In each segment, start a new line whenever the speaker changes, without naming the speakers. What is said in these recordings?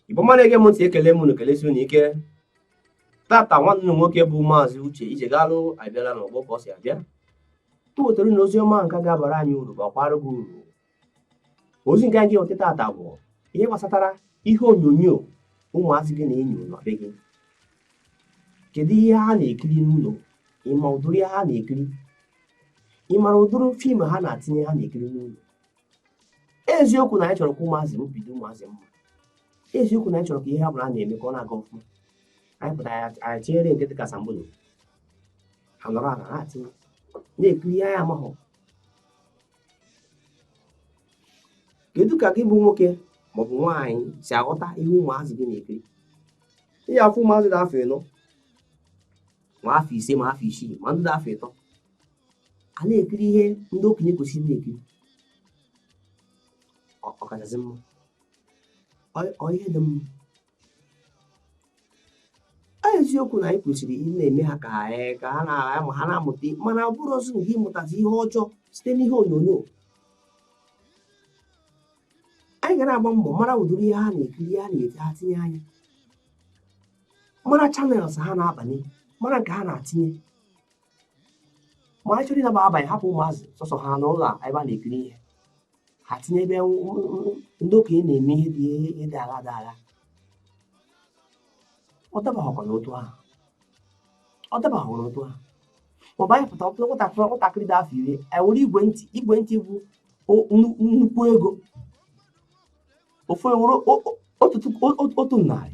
igbo mmadụ ege m ntị ekele m unu kelesi unu ike tata nwanne m nwoke bụ maazị uche ijegalụ abịala n'ọgbọ ka ọ si abịa o wetara na ozi ọma nke ga-abara anyị uru bakwara gị uru ozi nke anyị ga-eweta tata bụ ihe gbasatara ihe onyonyo ụmụazị gị na-enyo na be gị kedu ihe ha na-ekiri n'ụlọ ị ma ụdịrị ha na-ekiri ị mara ụdịrị fim ha na-atinye ha na-ekiri n'ụlọ eziokwu na anyị chọrọ ka ụmụazị m bụrụ ụmụazị ọma eziokwu na anyị chọrọ ka ihe ha bụla na-eme ka ọ na-aga ọfụma anyị pụtara anyị tinyere nke dịka sambodo ha nọrọ ala na-atị na-ekiri ihe anyị amaghị kedu ka gị bụ nwoke maọbụ nwaanyị si aghọta ihe ụmụazị gị na-ekiri ihe afọ ụmụazị dị afọ ịnọ ma afọ ise ma afọ isii ma ndị dị afọ ịtọ a na-ekiri ihe ndị okenye kwesịrị na-ekiri ọkachasị mma ọ ihe dị mma a eziokwu na anyị kwesịrị ịna-eme ha ka ha ee, ka ha na- ama- ha na-amụta ihe, mana ọ bụrụzị nke ịmụtazi ihe ọjọọ site n'ihe onyonyo anyị ga na-agba mbọ mara ụdịrị ihe ha na-ekiri ihe ha na-ete ha tinye anya mara channels ha na-abanye mara nke ha na-atinye ma anyị chọrọ ịnaba abalị hapụ ụmụazị sọsọ ha n'ụlọ a ebe ha na-ekiri ihe ha tinye ebe nw- nw- nw- ndị okenye na-eme ihe dị ihe dị aghaa dị aghaa ọ dabaghọkwa n'otu ahụ ọ dabaghọ n'otu ahụ ma ọ bụ anyị pụta ọ pụta nwatakịrị nwatakịrị dị afọ iri anyị were igwe ntị igwe ntị bụ o- nnu- nnukwu ego ofu ewere o- o- otu tupu- o- o- otu narị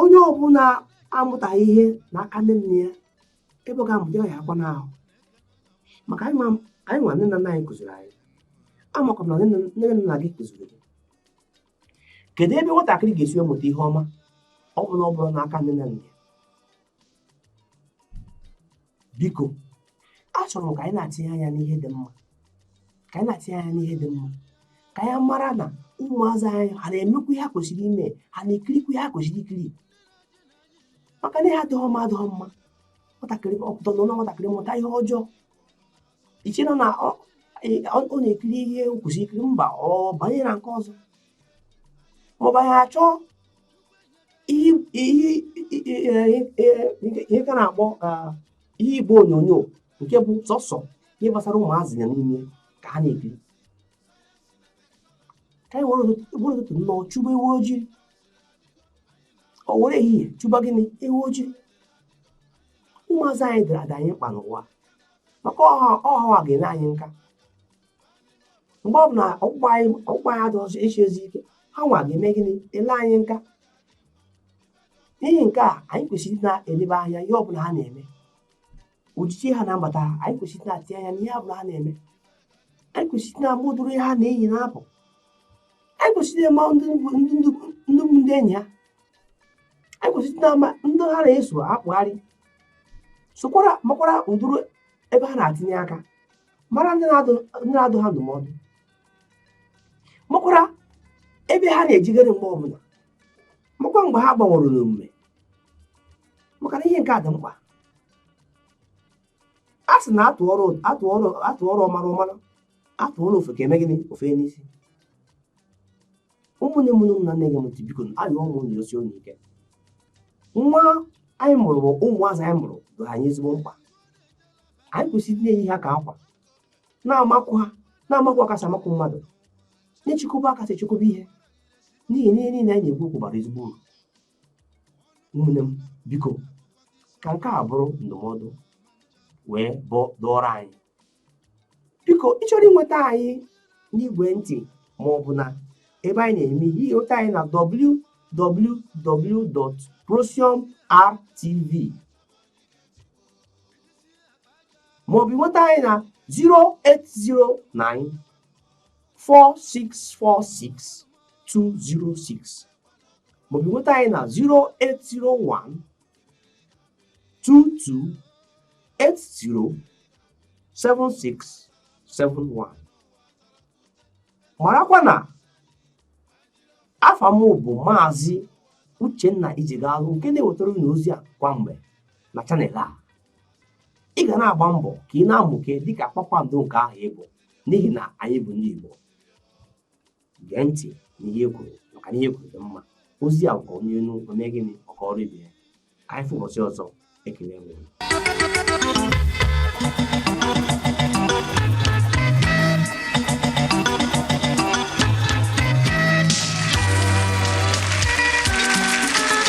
onye ọbụla amụtaghị ihe n'aka nne nne ya ebe ọ ga-amụta ya akwa n'ahụ maka anyị ma- anyị nwa nne na nna anyị kụziri anyị amakwa m na nne na- nne na nna gị kụziri gị kedu ebe nwatakịrị ga-esi wee mụta ihe ọma ọ bụ na ọ bụrọ n'aka nne na nna ya biko achọrọ m ka anyị na-atinye anya n'ihe dị mma ka anyị na-atinye anya n'ihe dị mma ka anyị mara na ụmụazị anyị ha na-emekwu ihe ha kwesịrị ime ha na-ekirikwu ihe ha kwesịrị ikiri maka na ihe adịghị mma adịghị mma nwatakịrị ọ pụta na nwatakịrị mụta ihe ọjọọ ichena na ọ ọ na-ekiri ihe o kwesịrị ikiri mba ọ banye na nke ọzọ maọbụ anyị achọọ ihe ihe ihe ka na-akpọ ah, ihe igbe onyonyo nke bụ sọsọ ihe gbasara ụmụazị ya n'ime ka ha na-ekiri ka anyị were ụtụtụ were ụtụtụ nnọọ chụba ewu ojii o were ehihie chụba gịnị ewu ojii ụmụazị anyị dara ada anyị mkpa n'ụwa maka ọ ha nwa ga-ele anyị nka mgbe ọbụla ọkpụkpụ anyị ọkpụkpụ anyị adịghị esizi ike ha nwa ga-eme gịnị ele anyị nka n'ihi nke a anyị kwesịrị ịdị na-elebe anya ihe ọbụla ha na-eme ojije ha na mbata ha anyị kwesịrị ịdị na-atị anya n'ihe ọbụla ha na-eme anyị kwesịrị ịdị na-ama ụdịrị ihe ha na-eyi na-apụ anyị kwesịrị ịma ndị ndị ndị ndị bụ ndị enyi ha anyị kwesịrị ịdị na-ama ndị ha na-eso akpagharị sokwara makwara ụdịrị ebe ha na-atinye aka mara ndị na-adụ ha ndụmọdụ makwara ebe ha na-ejekarị mgbe ọbụla makwa mgbe ha gbanwere n'omume maka na ihe nke a dị mkpa a sị na a tụọrọ a tụọrọ a tụọrọ ọmara ọ mara a tụọrọ ofeke o mee gịnị o fenye isi ụmụnne m ndị na-ege m ntị biko ayọọ m unu yọsie unu ike nwa anyị mụrụ bụ ụmụazị anyị mụrụ dị anyị ezigbo mkpa anyị kwesịrị na-eyi ha ka akwa na-amakụ ha na-amakụ ha ka esi amakụ mmadụ na-echekwaba ha ka esi echekwaba ihe n'ihi na ihe niile anyị na-ekwu bụ okwu bara ezigbo uru ụmụnne m biko ka nke a bụrụ ndụmọdụ wee dọọrọ anyị biko ị chọrọ ịnweta anyị n'igwe ntị ma ọ bụ na ebe anyị na-eme ihe ịnweta anyị na www.prosiumrtv ma ọ bụ ịnweta anyị na 0809 4646 206 maọbụ nweta anyị na 0801 22 80 7671 marakwa na afa m bụ maazị uchenna ijigalụ nke na-ewetara unu ozi a kwa mgbe na channel a ị ga na-agba mbọ ka ị na-amụke dịka kpakpando nke ahụ ị bụ n'ihi na anyị bụ ndị igbo gee ntị n'ihe e kwuru maka na ihe e kwuru dị mma ozi a nke onye nụ o mee gịnị ọ kọọrọ ibe ya ka anyị fụ ụbọchị ọzọ ekele nwere